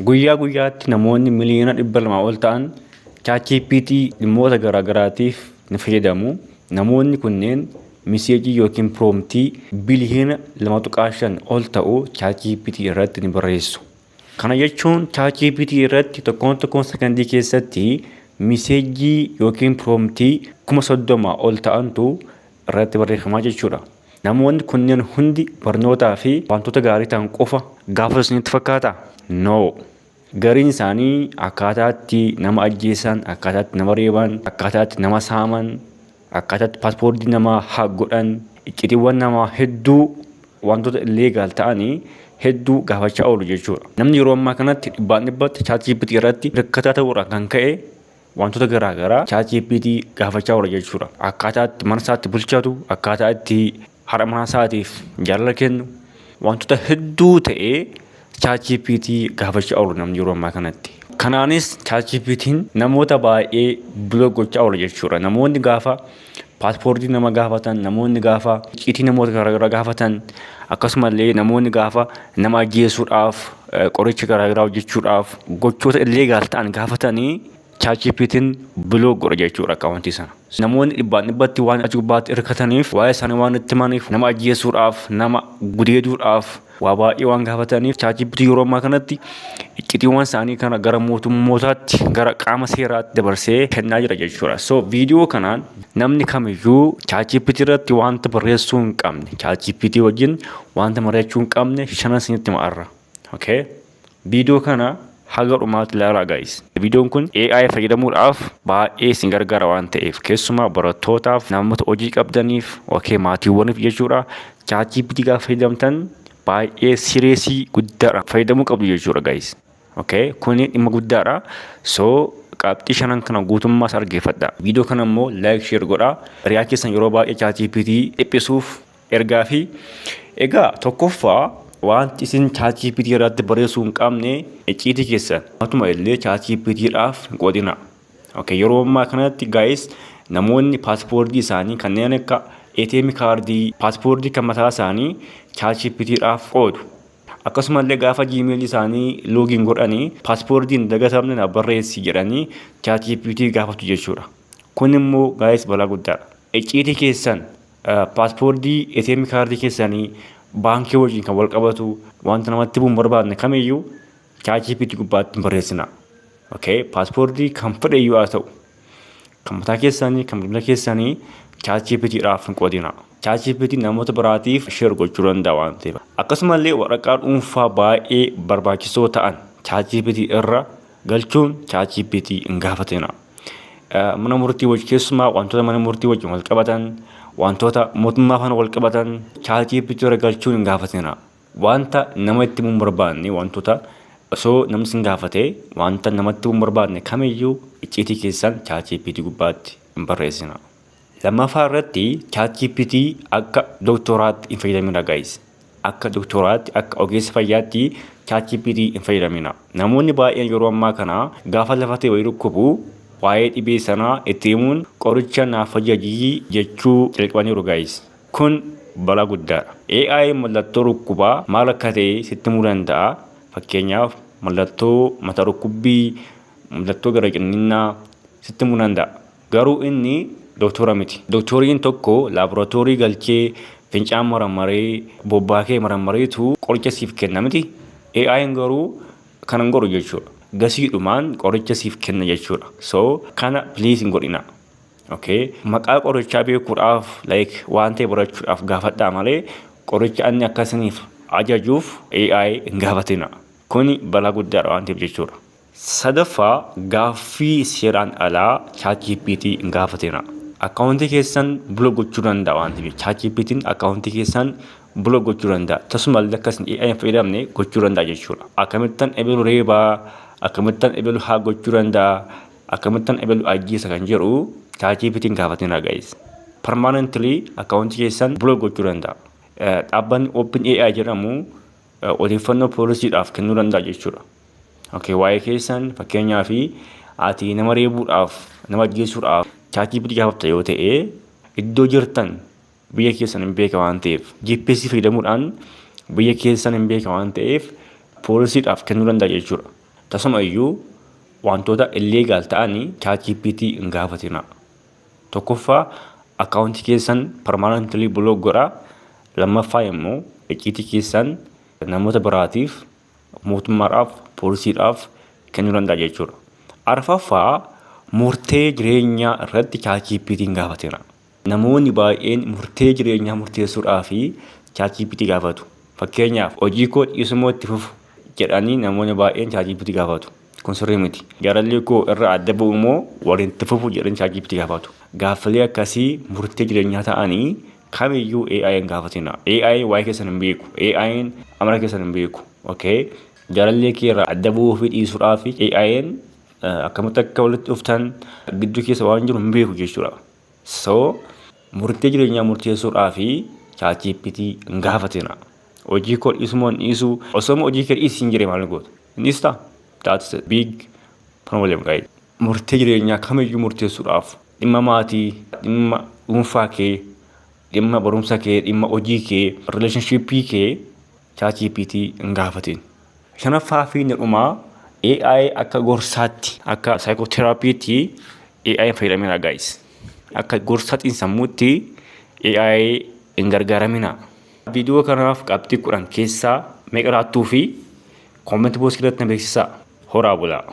Guyyaa guyyaatti namoonni miliyoona 200 ol ta'an ChatGPT dhimmoota garaagaraatiif ni fayyadamu. Namoonni kunneen miseejii yookiin piroomtii biliyoona 2.5 ol ta'u ChatGPT irratti ni barreessu. Kana jechuun ChatGPT irratti tokkoon tokkoon sekondii keessatti miseejii yookiin piroomtii 30,000 ol ta'antu irratti barreeffamaa jechuudha. Namoonni kunneen hundi barnootaa fi wantoota gaarii ta'an qofa gaafatu isinitti fakkaata? No. Gariin isaanii akkaataa itti nama ajjeesan, akkaataa itti nama reeban, akkaataa itti nama saaman, akkaataa itti paaspoortii namaa haak godhan, iccitiiwwan namaa hedduu wantoota illeegaal ta'anii hedduu gaafachaa oolu jechuudha. Namni yeroo ammaa kanatti dhibbaan dhibbatti ChatGPT irratti rakkataa ta'uurraan kan ka'e Waantota garaa garaa chat GPT gaafachaa oola jechuudha. Akkaataa itti mana isaatti bulchatu, akkaataa itti haadha manaa isaatiif jaalala kennu, waantota hedduu ta'ee chat GPT gaafachaa oolu namni yeroo ammaa kanatti. Kanaanis chat GPTn namoota baay'ee block gochaa oola jechuudha. Namoonni gaafa paaspoortii nama gaafatan, namoonni gaafa icciitii namoota garaagaraa gaafatan, akkasumallee namoonni gaafa nama ajjeesuudhaaf, qoricha garaagaraa hojjechuudhaaf, gochoota illeegaal ta'an gaafatanii ChatGPT'n biloog godha jechuudha akkaawuntii sana. Namoonni dhibbaan dhibbatti waan achi gubbaatti hirkataniif waa'ee isaanii waan itti himaniif nama ajjeesuudhaaf, nama gudeeduudhaaf, waa baay'ee waan gaafataniif chaatjiipitii yeroo ammaa kanatti iccitiiwwan isaanii kana gara mootummootaatti gara qaama seeraatti dabarsee kennaa jira jechuudha. So viidiyoo kanaan namni kamiyyuu chaatjiipitii irratti wanta barreessuu hin qabne chaatjiipitii wajjin wanta mari'achuu hin qabne shanan isinitti hima arra. Okay? Video kana haga dhumaatti ilaalaa guys. Videon kun AI fayyadamuudhaaf baay'ee isin gargaara waan ta'eef keessumaa barattootaaf, namoota hojii qabdaniif, ok maatiiwwaniif jechuudha. ChatGPT gaafa fayyadamtan baay'ee sireesii guddaadhaan fayyadamuu qabdu jechuudha guys. Ok kuni dhimma guddaadha. So qabxii shanan kana guutummaa isaa dhaggeeffadha. Video kana immoo like share godhaa. Riyaa keessan yeroo baay'ee ChatGPT dhiphisuuf Ergaa fi Egaa tokkoffaa waanti isin ChatGPT irratti barreessuu hin qabne icciitii keessan matuma illee ChatGPT dhaaf hin qoodina. Okay, yeroo ammaa kanatti guys namoonni paaspoortii isaanii kanneen akka ATM kaardii, paaspoortii kan mataa isaanii ChatGPT dhaaf qoodu. Akkasumallee gaafa Gmail isaanii login godhanii paaspoortii hin dagatamne na barreessi jedhanii ChatGPT gaafatu jechuudha. Kun immoo guys balaa guddaadha. Icciitii keessan Paaspoortii, ATM kaardii keessanii, baankii wajjin kan wal qabatu wanta namatti himuun barbaadne kamiyyuu ChatGPT gubbaatti hin barreessina. Okay? Paaspoortii kan fedhe iyyuu haa ta'u. Kan mataa keessanii, kan bilbila keessanii ChatGPT dhaaf hin qoodina. ChatGPT namoota biraatiif share gochuu danda'a waan ta'eef. Akkasumallee waraqaa dhuunfaa baay'ee barbaachisoo ta'an ChatGPT irra galchuun ChatGPT hin gaafatina. mana murtii wajji keessumaa wantoota mana murtii wajjin wal qabatan wantoota mootummaa faana wal qabatan chaatii pichura galchuun hin gaafatina wanta nama itti mun barbaanne wantoota osoo namni sin gaafate wanta namatti mun barbaanne kamiyyuu icciitii keessan chaatii pichii gubbaatti hin barreessina. Lammaffaa irratti ChatGPT akka doktoraatti hin fayyadamina guys. Akka doktoraatti akka ogeessa fayyaatti ChatGPT hin fayyadamina. Namoonni baay'een yeroo ammaa kana gaafa lafa ta'e wayii dhukkubu waa'ee dhibee sanaa itti himuun qoricha naaf hojjajii jechuu jalqabaniiru guys. Kun balaa guddaadha. AI mallattoo dhukkubaa maal akka ta'e sitti himuu danda'a. Fakkeenyaaf mallattoo mataa dhukkubbii, mallattoo gara cinninnaa sitti himuu danda'a. Garuu inni doktoora miti. Doktooriin tokko laaboratoorii galchee fincaan marammaree, bobbaa kee marammareetu qoricha siif kenna miti. AI'n garuu kana hin godhu jechuudha. Gasiidhumaan qoricha siif kenna jechuudha. So kana please hin godhinaa. Okay. Maqaa qorichaa beekuudhaaf like waan ta'e barachuudhaaf gaafadhaa malee qoricha anni akka isiniif ajajuuf AI hin gaafatinaa. Kuni balaa guddaadha waan ta'eef jechuudha. Sadaffaa, gaaffii seeraan alaa ChatGPT hin gaafatina. Akkaawuntii keessan bula gochuu danda'a waan ta'eef ChatGPT'n akkaawuntii keessan bula gochuu danda'a. Tasumallee akka isin AI hin fayyadamne gochuu danda'a jechuudha. Akkamittan ebelu reebaa, akkamittan ebelu haa gochuu danda'a, akkamittan ebelu ajjeesa kan jedhu ChatGPT hin gaafatina guys. Permanently akkaawuntii keessan bula gochuu danda'a. Dhaabbanni OpenAI jedhamu odeeffannoo poolisiidhaaf kennuu danda'a jechuudha. Okay, waa'ee keessan fakkeenyaa fi ati nama reebuudhaaf nama ajjeesuudhaaf chaatii bitii gaafata yoo ta'e iddoo jirtan biyya keessan hin beeka waan ta'eef GPS fayyadamuudhaan biyya keessan hin beeka waan ta'eef poolisiidhaaf kennuu danda'a jechuudha. Tasuma iyyuu wantoota illeegaal ta'anii chaatii bitii hin gaafatina. Tokkoffaa akkaawuntii keessan parmaanantilii bulook godha. Lammaffaa immoo icciitii keessan namoota biraatiif mootummaadhaaf, poolisiidhaaf kennuu danda'a jechuudha. Arfaffaa murtee jireenyaa irratti ChatGPT'n gaafateera. Namoonni baay'een murtee jireenyaa murteessuudhaaf ChatGPT gaafatu. Fakkeenyaaf hojii koo dhiisuu moo itti fufu jedhanii namoonni baay'een ChatGPT gaafatu. Kun sirrii miti. Jaalallee koo irraa adda ba'u moo waliin itti fufu jedhanii ChatGPT gaafatu. Gaaffilee akkasii murtee jireenyaa ta'anii kamiyyuu AI hin gaafatina. AI waa'ee keessan hin beeku. AI'n amala keessan hin beeku. Okay? Jaalallee kee irraa adda bu'uu fi dhiisuudhaa fi AI'n akkamitti akka walitti dhuftan gidduu keessa waan jiru hin beeku jechuudha. So murtee jireenyaa murteessuudhaa fi ChatGPT hin gaafatina. Hojii koo dhiisumoo hin dhiisu osoo hojii kee dhiisi hin jiree maal goota? Hin dhiistaa? That's a big problem guys. Murtee jireenyaa kamiyyuu murteessuudhaaf dhimma maatii, dhimma dhuunfaa kee, dhimma barumsa kee, dhimma hojii kee, relationship kee ChatGPT hin gaafatin. Shanaffaa fi inni dhumaa AI akka gorsaatti, akka psychotherapytti AI hin fayyadaminaa guys. Akka gorsa xiinsammuutti AI hin gargaaraminaa. Viidiyoo kanaaf qabxii kudhan keessaa meeqa laattuu fi comment box keessatti na beeksisaa. Horaa bulaa.